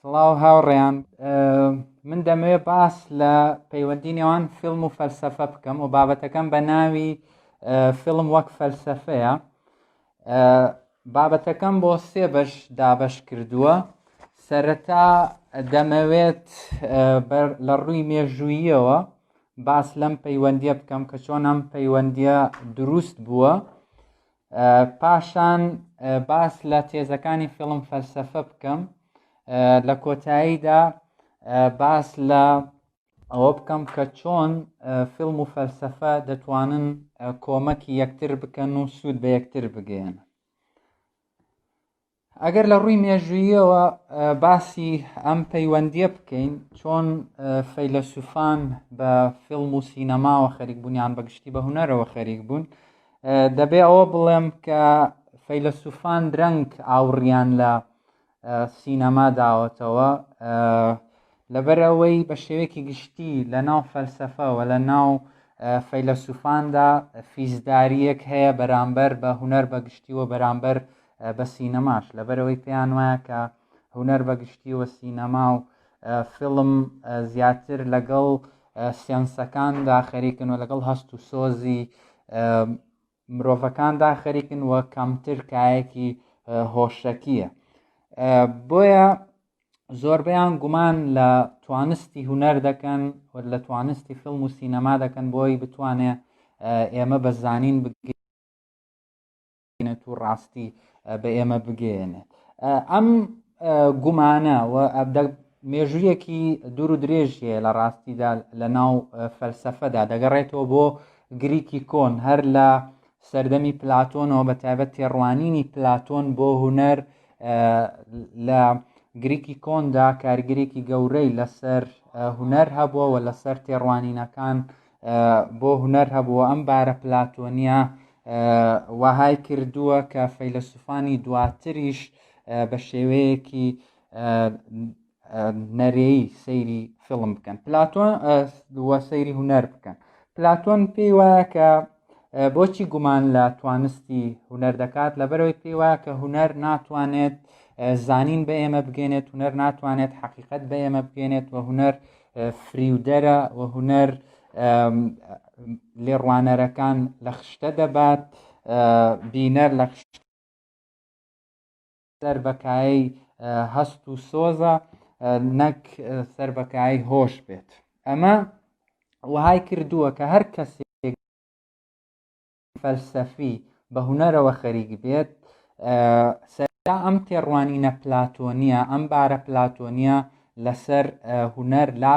سڵاو هاوڕێیان من دەمەوێت باس لە پەیوەندی نێوان فیلم و فەلسەفە بکەم و بابەتەکەم بە ناوی فیلم وەک فەلسەفەیە بابەتەکەم بۆ سێ بەش دابش کردووە سەرەتا دەمەوێت لە ڕووی مێژووییەوە باس لەم پەیوەندیە بکەم کە چۆن ئەم پەیوەندیە دروست بووە پاشان باس لە تێزەکانی فیڵم فەلسەفە بکەم لە کۆتاییدا باس لە ئەوە بکەم کە چۆن فیلم و فەلسەفە دەتوانن کۆمەکی یەکتر بکەن و سوود بە یەکتر بگەێن ئەگەر لە ڕووی مێژووییەوە باسی ئەم پەیوەندیە بکەین چۆن فەیلەسوفان بە فیلم و سینەماوە خەریک بوونیان بەگشتی بە هوەرەوە خەریک بوون دەبێ ئەوە بڵێم کە فەیلەسوفان درەنگ ئاوڕیان لە سینەما داوەتەوە لەبەر ئەوەی بە شێوەیەکی گشتی لە ناو فەلسەفە و لە ناو فەیلەسوفاندا فیزداریەک هەیە بەرامبەر بە هونەر بە گشتی و بەرامبەر بە سینەماش لەبەرەوەی پێیان وایە کە هونەر بە گشتی و سینەما و فیلم زیاتر لەگەڵ سێنسەکاندا خەریکن و لەگەڵ هەست و سۆزی مرۆڤەکاندا خەریکن و کەمتر کایەکی هۆشەکیە بۆیە زۆربیان گومان لە توانستی هوەر دەکەن و لە توانستی فیلم و سینەما دەکەن بۆی بتوانێ ئێمە بە زانین بگەێنێت و ڕاستی بە ئێمە بگەێنێت ئەم گومانە و مێژوویەکی دوور و درێژی هەیە لە ڕاستیدا لە ناو فەلسەفەدا دەگەڕێتەوە بۆ گریکی کۆن هەر لە سەردەمی پلاتۆنەوە بە تایبەت تێڕوانینی پلاتۆن بۆ هوەر لە گریکی کۆندا کارگرێکی گەورەی لەسەر هوەر هەبووە و لەسەر تێڕوانینەکان بۆ هوەر هەبووە ئەم بارە پلاتۆنیە وەهای کردووە کە فەیلەسوفانی دواتریش بە شێوەیەکی نەرێی سەیری فیلم بکەن پلاتۆن دووە سەیری هوەر بکەن پلاتۆن پێی وایە کە بۆچی گومان لە توانستی هوەر دەکات لەبەرەوەی پێی وایە کە هوەر ناتوانێت زانین بە ئێمە بگەێنێت هوەر ناتوانێت حقیقت بە ئێمە بگەێنێت و هوەر فریودەرە و هوەر لێڕوانەرەکان لە خشتە دەبات بینەر لە سەر بە کایەی هەست و سۆزە نەک سەر بە کایەی هۆش بێت ئەمە وهای کردووە کە هەر کەسێک فەلسەفی بە هوەرەوە خەریک بێت سەردا ئەم تێڕوانینە پلاتۆنیە ئەم بارە پلاتۆنیە لەسەر هوەر لا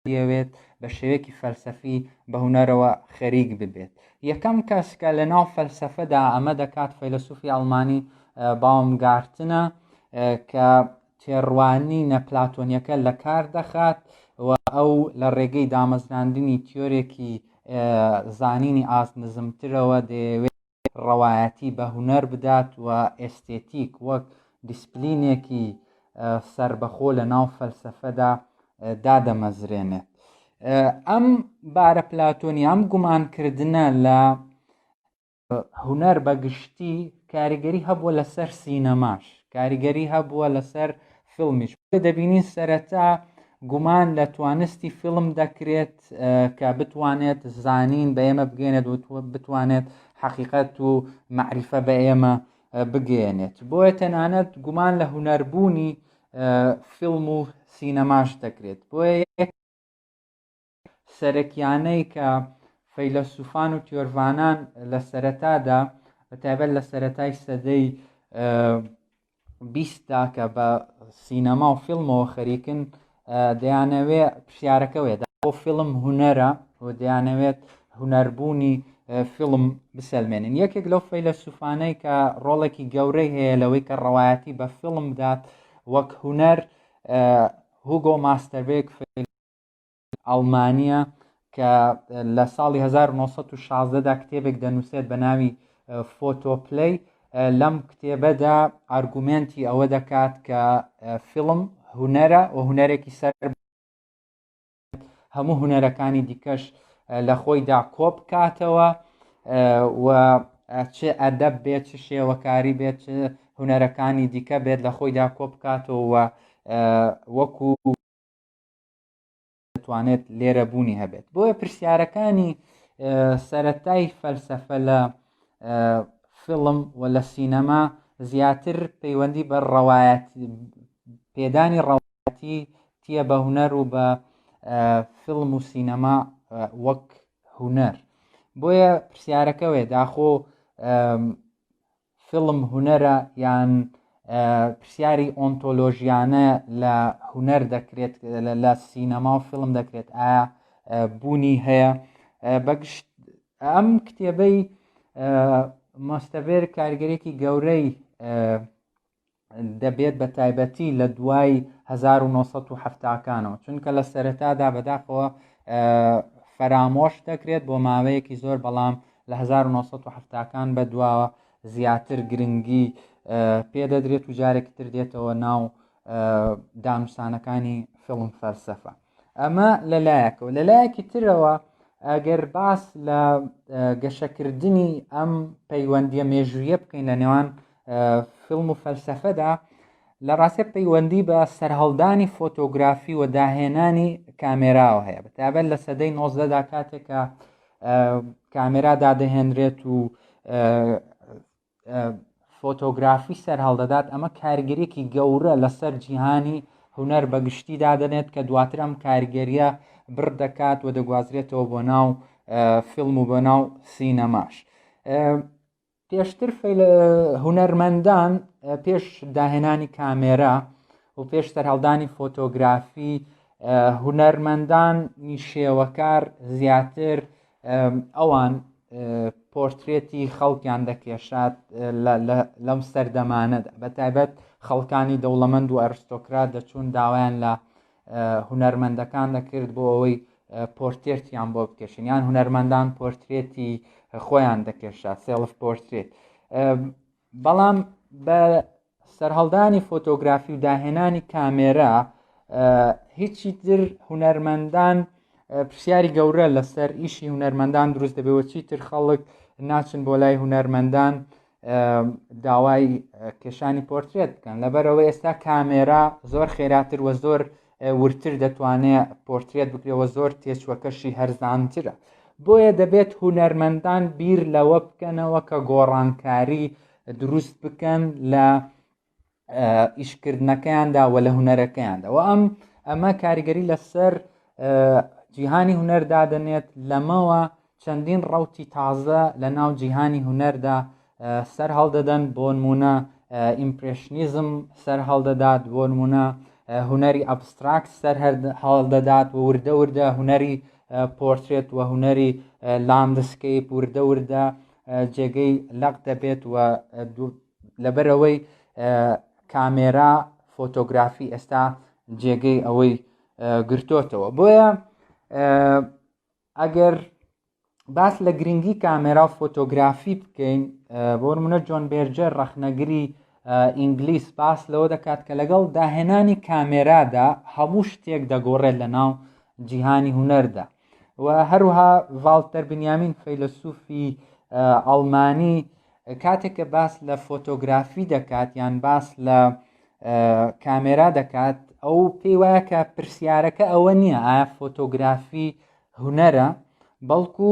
بیەوێت بە شێوەیەکی فەلسەفی بە هونەرەوە خەریک ببێت یەکەم کەس کە لە ناو فەلسەفەدا ئەمە دەکات فەیلسوفی ئەڵمانی باوم گارتنە کە تێڕوانی نەپلاتۆنیەکە لە کار دەخات و ئەو لە ڕێگەی دامەزراندنی تیۆرێکی زانینی ئاست نزمترەوە دەیەوێت ڕەوایەتی بە هونەر بدات و ئێستێتیک وەک دیسپلینێکی سەربەخۆ لە ناو فەلسەفەدا دادەمەزرێنێت. ئەم بارە پلاتۆنی ئەم گومانکردنە لە هونەر بە گشتی کاریگەری هەبووە لەسەر سینەماش کاریگەری هەبووە لەسەر فیلمیش دەبینین سەرەتا گومان لە توانستی فیلم دەکرێت کە بتوانێت زانین بە ئێمە بگەێنێت و بتوانێت حەقیقەت و معریفە بە ئێمە بگەێنێت بۆیە تەنانەت گومان لە هوەربوونی فیلم و سینەماش دەکرێت بۆیە سەرەکیانەی کە فەیلەسوفان و تیۆرڤانان لە سەرەتادا بە تایبەت لە سەتای سەدەی بیست دا کە بە سینەما و فیلمەوە خەریکن دەیانەوێ پرسیارەکەوێت بۆ فیلم هوەرە و دەیانەوێت هوەربوونی فیلم بسەلمێنین یەکێک لەو فەیلە سوفانەی کە ڕۆڵێکی گەورەی هەیە لەوەی کە ڕەوایەتی بە فیلم بدات وەک هوەر هوگۆ ماستەربێک فیل ئەڵمانییە کە لە ساڵی هەزار و نۆ سەد و شازدە دا کتێبێک دەنووسێت بە ناوی فۆتۆپلەی لەم کتێبەدا ئارگومێنتی ئەوە دەکات کە فیلم هونەرە و هونەرێکی سەر هەموو هونەرەکانی دیکەش لە خۆیدا کۆپ کاتەوە و چ ئەدەب بێت چ شێوەکاری بێت چ هونەرەکانی دیکە بێت لە خۆیدا کۆپ کاتەوە وەکو دەتوانێت لێرە بوونی هەبێت بۆیە پرسیارەکانی سەتای فەلسەفە لە فیلم و لە سینەما زیاتر پەیوەندی بە ڕەوایەت پێدانی ڕەواتی تیە بە هوەر و بە فیلم و سینەما وەک هوەر بۆیە پرسیارەکەوێ داخۆ فیلم هونەرە یان پرسیاری ئۆنتۆلۆژیانە لە هونەر دەکرێت لە سینەما و فیلم دەکرێت ئایا بوونی هەیە بەگشت ئەم کتێبەی ماستەڤێر کارگەرێکی گەورەی دەبێت بە تایبەتی لە دوای 1970 کانەوە چونکە لە سەرەتادا بەداخەوە فەرامۆش دەکرێت بۆ ماوەیەکی زۆر بەڵام لە 1970 کان بە دواوە زیاتر گرنگی پێدەدرێت و جارێکی تر دێتەوە ناو دانوسانەکانی فڵم فەلسەفە ئەمە لەلایەکەوە لەلایەکی ترەوە ئەگەر باس لە گەشەکردنی ئەم پەیوەندیە مێژوویە بکەین لە نێوان فیلم و فەلسەفەدا لە ڕاستە پەیوەندی بە سەرهەڵدانی فۆتۆگرافی و داهێنانی کامێراوە هەیە بەتابەت لە سەدەی نۆزدەدا کاتێکە کامێرا دادەهێنرێت و فۆتۆگرافی سەرهەڵدەدات ئەمە کارگرێکی گەورە لەسەر جیهانی هوەر بە گشتی دادنێت کە دواتر ئەم کارگەریە بڕ دەکات و دەگوازرێتەوە بۆ ناو فیلم و بۆ ناو سینەماش پێشتر هونەرمەندان پێش داهێنانی کامێرا و پێش سەرهەڵدانی فۆتۆگرافی هونەرمەندان نیشێوەکار زیاتر ئەوان پۆرترێتی خەڵکیان دەکێشات لەم سەردەمانەدا بە تایبەت خەڵکانی دەوڵەمەند و ئەرستۆکرات دەچوون داوایان لە هونەرمەندەکان دەکرد بۆ ئەوەی پۆرتێرتیان بۆ بکێشن یان هونەرمەندان پۆرترێتی خۆیان دەکێشا سێڵف پۆرترێت بەڵام بە سەرهەڵدانی فۆتۆگرافی و داهێنانی کامێرا هیچی تر هونەرمەندان پرسیاری گەورە لەسەر ئیشی هونەرمەندان دروست دەبێەوە چیتر خەڵک ناچن بۆ لای هونەرمەندان داوای کێشانی پۆرترێت بکەن لەبەرەوەی ئێستا کامێرا زۆر خێراتر وە زۆر ورتر دەتوانێت پۆرترێت بکرێەوە زۆر تێچوەکەشی هەرزانترە بۆیە دەبێت هونەرمەندان بیر لەوە بکەنەوە کە گۆڕانکاری دروست بکەن لە ئیشکردنەکەیاندا و لە هوەرەکەیاندا و ئەم ئەمە کاریگەری لەسەر جیهانی هوەر دادەنێت لەمەوە چەندین ڕوتی تازە لە ناو جیهانی هوەردا سەر هەڵدەدەن بۆ نمونە ئیمپرشنیزم سەر هەڵدەدات بۆ نمونە هوەری ئەبستراکت سەر هەڵدەدات و وردە وردە هوەری پۆرترێت و هوەری لاندسکەیپ وردە وردە جێگەی لەق دەبێت و لەبەرەوەی کامێرا فۆتۆگرافی ئێستا جێگەی ئەوەی گرتۆتەوە بۆیە ئەگەر باس لە گرنگی کامێرا و فۆتۆگرافی بکەین بۆ منە جۆن بێرجەر ڕەخنەگری ئینگلیس باس لەوە دەکات کە لەگەڵ داهێنانی کامێرادا هەموو شتێک دەگۆڕێت لە ناو جیهانی هوەردا و هەروها ڤالتەر بنیامین فەیلەسوفی ئەڵمانی کاتێک کە باس لە فۆتۆگرافی دەکات یان باس لە کامێرا دەکات ئەو پێی وایە کە پرسیارەکە ئەوە نییە ئایا فۆتۆگرافی هوەرە بەڵکو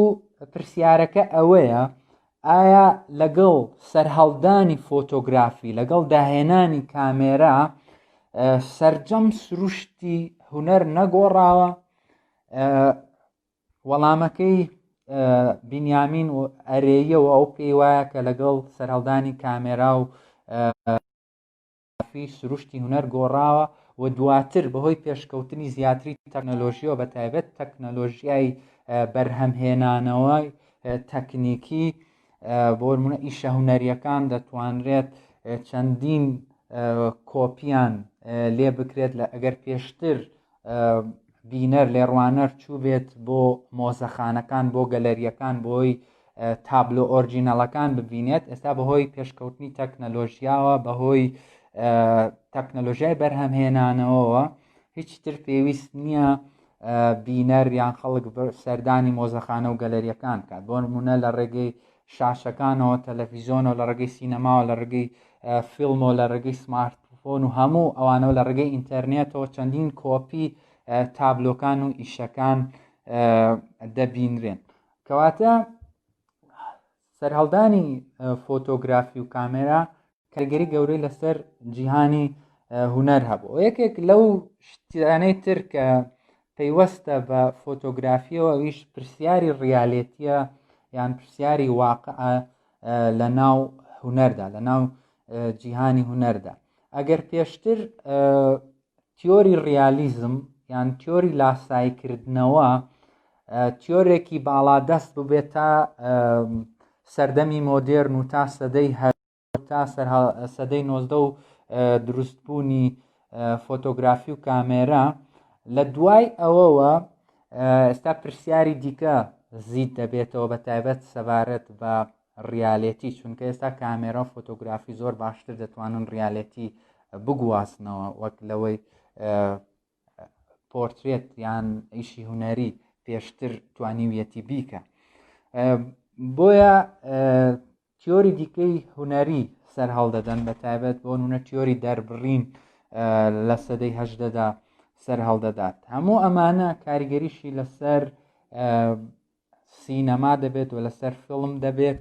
پرسیارەکە ئەوەیە ئایا لەگەڵ سەرهەڵدانی فۆتۆگرافی لەگەڵ داهێنانی کامێرا سرجەم سروشتی هوەر نەگۆڕاوە وەڵامەکەی بینیامین و ئەرێیەوە ئەو پێی وایە کە لەگەڵ سەرهەڵدانی کامێرا و فی سروشتی هوەر گۆڕاوە و دواتر بەهۆی پێشکەوتنی زیاتری تەکنەلۆژیەوە بە تایبەت تەکنەلۆژیای بەرهەمهێنانەوەی تەکنیکی بۆ منە ئیشە هوەریەکان دەتوانرێت چەندین کۆپیان لێ بکرێت لە ئەگەر پێشتر بینەر، لێڕوانەر چووبێت بۆ مۆزەخانەکان، بۆ گەلەرییەکان، بۆی تابلۆ ئۆرجینەڵەکان ببینێت، ئێستا بەهۆی پێشکەوتنی تەکنەلۆژیاوە، بەهۆی تەکنەلۆژیای بەرهەمهێنانەوەوە هیچ تر پێویست نییە بینەر یان خەڵک سەردانی مۆزەخانە و گەلەریەکان کات بۆ نمونە لە ڕێگەی شاشەکانەوە، تەلەفیزۆنەوە، لە ڕێگەی سینەماوە، لە ڕێگەی فیلمەوە، لە ڕێگەی سمارت فۆن و هەموو ئەوانەوە، لە ڕێگەی ئینتەرنێتەوە چەندین کۆپی تابلۆکان و ئیشەکان دەبینرێن کەواتە سەرهەڵدانی فۆتۆگرافی و کامێرا کاریگەری گەورەی لەسەر جیهانی هوەر هەبوو یەکێک لەو شتیانەی تر کە پەیوەستە بە فۆتۆگرافیەوە ئەویش پرسیاری ڕیالێتیە یان پرسیاری واقع لە ناو هوەردا لە ناو جیهانی هوەردا ئەگەر پێشتر تیۆری ڕیالیزم یان تیۆری لاسایکردنەوە تیۆرێکی باڵادەست ببێت تا سەردەمی مۆدێرن و تا سەدەی هەر تا سەدەی نۆزدە و دروستبوونی فۆتۆگرافی و کامێرە لە دوای ئەوەوە ئێستا پرسیاری دیکە زیت دەبێتەوە بە تایبەت سەبارەت بە ڕیالەتی چونکە ئێستا کامێرا و فۆتۆگرافی زۆر باشتر دەتوانن ڕیالەتی بگوازنەوە وەک لەوەی پۆرترێت یان ئیشی هوەری پێشتر توانیویەتی بیکە بۆیە تیۆری دیکەی هونەری سەرهەڵدەدەن بە تایبەت بۆ نونە تیۆری دەربڕین لە سەدەی هەشدەدا سەرهەڵدەدات هەموو ئەمانە کاریگەریشی لەسەر سینەما دەبێت و لەسەر فیلم دەبێت